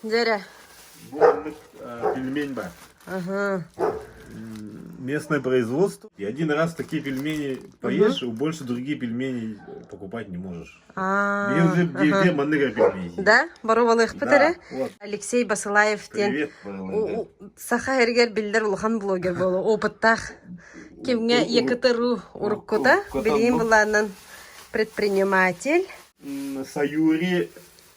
Деря. Был вот пельмень бар. Ага. Местное производство. И один раз такие пельмени поешь, угу. больше другие пельмени покупать не можешь. Мен уже где маныга пельмени. Да? Боровалых пытары. Алексей Басылаев ден саха эргер билдер улахан блогер болу опыттах кимге екатеру уруккута билим буланын предприниматель Саюри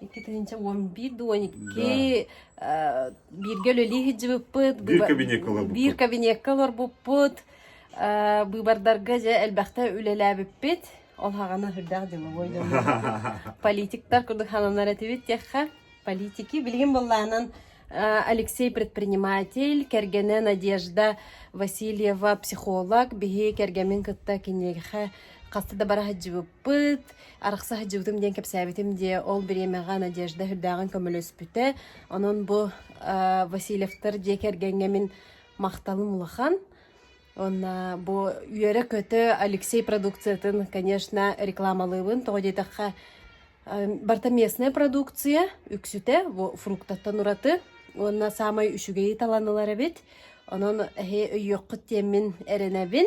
Икки тыһыынча уон биир да уон икки бииргэ үлэлии сылдьыбыппыт. Биир кабинекка олорбуппут. Биир кабинекка олорбуппут. Быыбардарга дьэ элбэхтэ үлэлээбиппит. Ол хаҕана үрдээх дьылы Политиктар курдук хананар этибит диэххэ. Политики билигин быллаанан Алексей предприниматель, кэргэнэ Надежда Васильева психолог, биһи кэргэмин кытта киниэхэ хаста да бара сылдьыбыппыт. Пыт, арахса сылдьыбытым диэн кэпсээбитим дии, ол бириэмэҕэ Надежда үрдээҕин көмөлөспүтэ. Онон бу э, Васильевтар дьиэ кэргэҥҥэ мин махталым улахан. Онна бу үөрэ-көтө Алексей продукциятын, конечно, рекламалыыбын. Тоҕо диэтэххэ, барта местная продукция, үксүтэ фруктаттан ураты. Уонна саамай үчүгэйи талан ылар эбит. Онон эһи өйүөххүт диэммин эрэнэбин.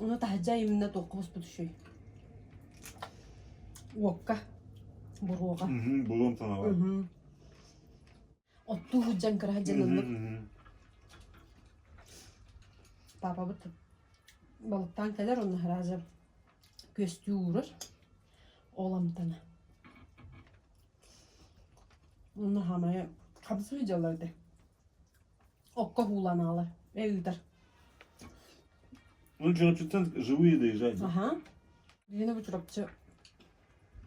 Ону таһырдьа айымнына туохха хоспутушуй? Уокка, буруоҕа. Буруом танаба. Оттуу сылдьан кыра сылдьаныллык. Папабыт балыктаан кэлэр онно хараажа күөстүү уурар. Оламтана. Онно хамайа хамсыы дьаллар да. Окко ууланаалар. Э ыытар. Ну, чурапчыттан живые доезжать. Аха. Киһини бу Чурапчы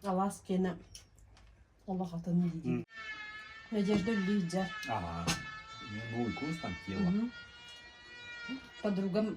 алаас киэнэ олох атын диди. Надежда Лидия. Ага. Мне новый курс там тело. Подругам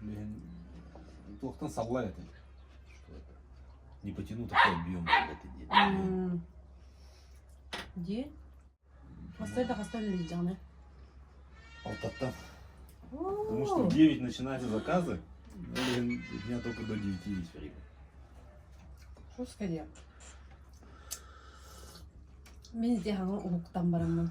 Блин, туохтан саллай этэ. Не потяну такой объем. Ди? Хастай да хастай лежданы. Алтаттан. Потому что в 9 начинаются заказы, блин, у меня только до 9 есть время. Что скорее? Мен де хаңа уһуктан бараммын.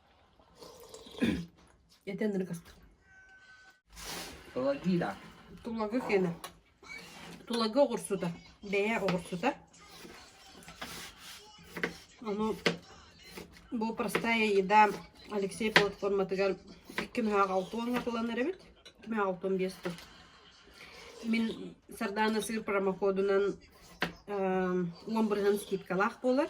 Итеннер кастым. Плагина. Тулагы кена. Тулагы оҕурсута. Бэйэ оҕурсута. Ону бу простая еда Алексей платформатыгар икки мүһэ алтуан атыланар эбит. Мүһэ алтуан биэс тыл. Мин сардаана сыр промокодунан уон бырыһын скидкалаах буолар.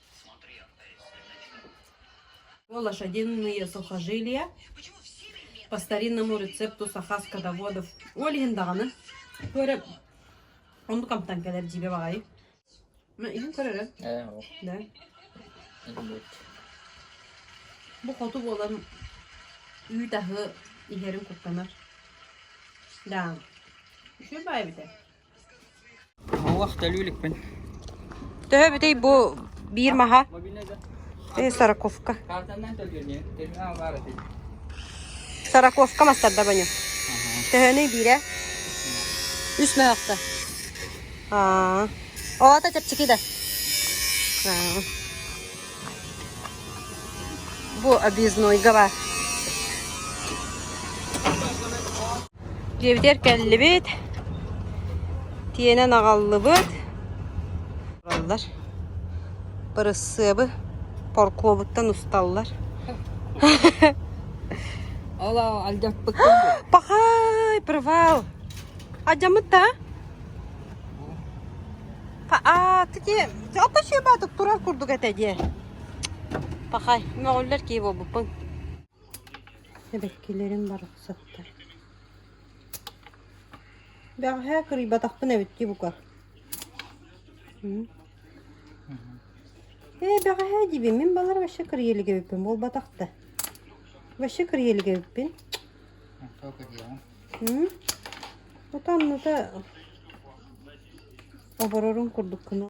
лошадиные сухожилия по старинному рецепту саха скотоводов ол иһин даҕаны көрө онду камтан кэлэр дибе баҕайы ма иһин көрөрө да бу хоту буолан үүт аһы иһэрин куттанар да үчү баай битэ Оһох төлүү иликпин Төһө эбитий бу биир маһа? Э, Сороковка. Сороковка мастардабаню. Төһөнүй биирэ? Үс мөһөхтө. Аа. Оҕото чэпчэки да. Аа. Бу объезднойга бар. Дьиэбитигэр кэллибит, тиэнэн аҕаллыбыт, олороллор. Бырысыабы поркуобуттан усталлар. Ол алдьаппыккын дуо? Пахай, привал! Алдьаммыт да? А ты спасибо тук турар курдук этэ дии. Пахай, мөҕүллэр кии буолбуппун. Эбэккилэрим барахсаттар Бэҕэһээ кырыйбатахпын эбит дии бука Ээ бэҕэһээ диибин мин балар вообще кырыйа илик эбиппин буолбатах да Вообще кырыйа илик эбиппин Утам-ната оборорун курдук гына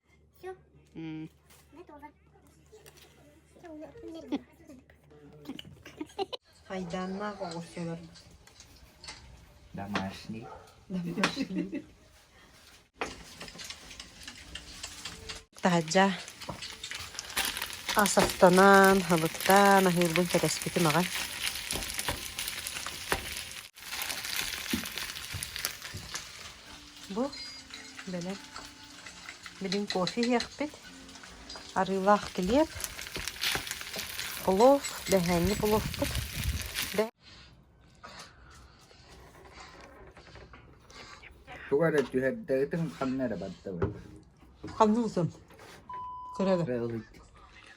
Айдааннаах оҕурсулар Домашний. домашние. таһырдьа асаптанан хабыктаан аһыырбын кэтэспитим аҕай Бу бэлэм билин кофе иһиэхпит. Арыылаах килиэп, плов, дэһээнньи пловпут. Туга эрэ түһэрдэҕитин ханна эрэ бардыбыт. Ханна узун? Көрөбө. Кыралый.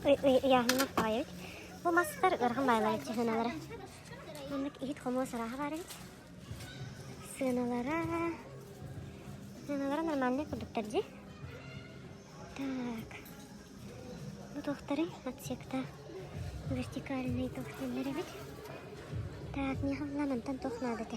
Ыйааһыннар таҕайабыт. Бу мастар ыарахан баалар сыһыналара. Маннык иһит-хомуос арааһа бар эбит. Сыаналара... Сыаналара нормальный курдуктар дии. Так. Бу туохтарый? Отсекта вертикальный туохтаннар эбит. Так, мне хавлан антан туох наадата.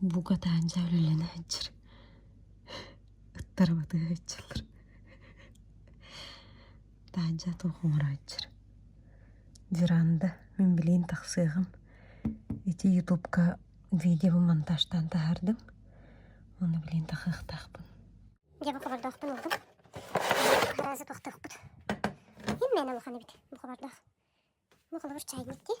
Бука таанча үлэлэнэ сылдьар ыттар батыһа ыччаллар таанча туох оҥоро сылдьар веранда мин билигин тахсыаҕым ити ютубка видео монтажтаан таһаардым ону билигин тахыахтаахпын дьэ букабардаахпын ылдым араasi тохтоохпут имээн улахан эбит букабардаах ну холобур чайник дии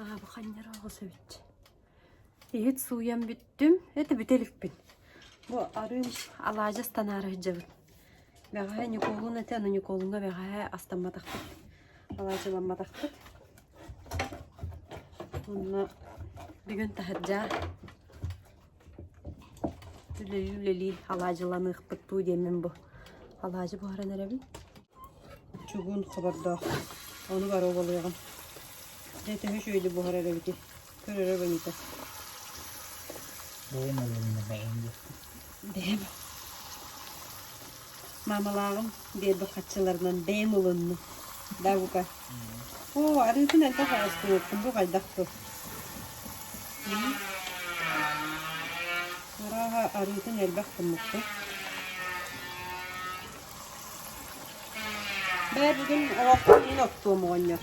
Аабаханньар оҕус эбит иһит сууйан бүттүм ити бүтэ иликпин бу арыый алаадьы станаара сылдьабын бэҕэһээ Ньукуолун этэ Ньукуолуҥҥа бэҕэһээ астамматахпыт алаадьыламматахпыт уонна бүгүн таһырдьа Үлэйи үлэлии алаадьыланыахпыт дуу диэммин бу алаадьы буһаран эрэбин. Чугун хобордоох, ону бары убалыаҕым. Дьэ төһө үчүгэйдик буһар эрэбитий, көрөрө бөнүтэ. Бэйэм өлөрүмэ баҕайым диэн. Бэйэм. Маамалааҕым биэрбит хаччыларынан бэйэм ылынным. Да, бука. Оо, арыытын элбэх оҕустубуппун бу хайдах тыл? Арааһа, арыытын элбэх гыммыппын. Бээ, бүгүн оҕохпун мин оттуом оҕонньор.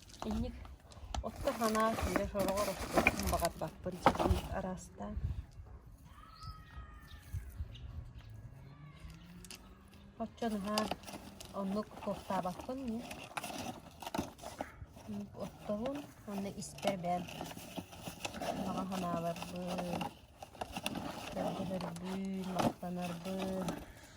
Инник отто санаа сүүрэ сороҕор оттуохпун баҕарбаппын ситиһии араастаан Оччо наһаа оннук суохтаабаппын ниэ оттоһун уонна испэр бэйэм баҕа санаабарбын, көрдөһөрбүн, махтанарбын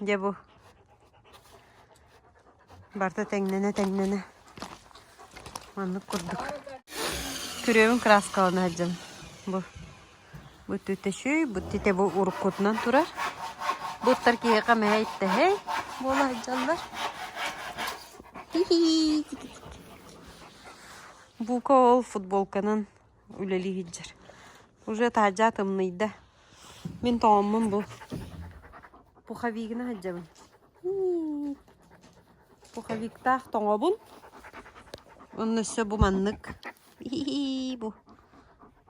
Дьэ бу барыта тэҥнэнэ-тэҥнэнэ маннык курдук күрүөбүн краскалана сылдьам бу бу түтөчүй бу титэ бу уруккутунан турар буттар киһиэхэ мэһэ иттэһэй буола сылдьаллар бука ол футболканан үлэлиһиһдьэр. Уже таһырдьа атымныйда. Мин тоҕоммун бу пуховигына сылдьабын. Пуховиктаах тоҥобун. Онно өссө бу маннык. Бу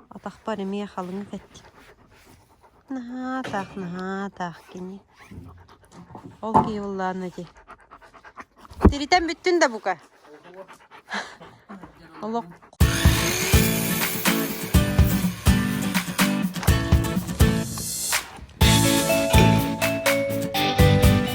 атахпар эмиэ халыҥ кэттим. Наһаа атаах, наһаа атаах кини. Ол киһи буллаанна ити. Тиритэн бүттүн да бука. Олох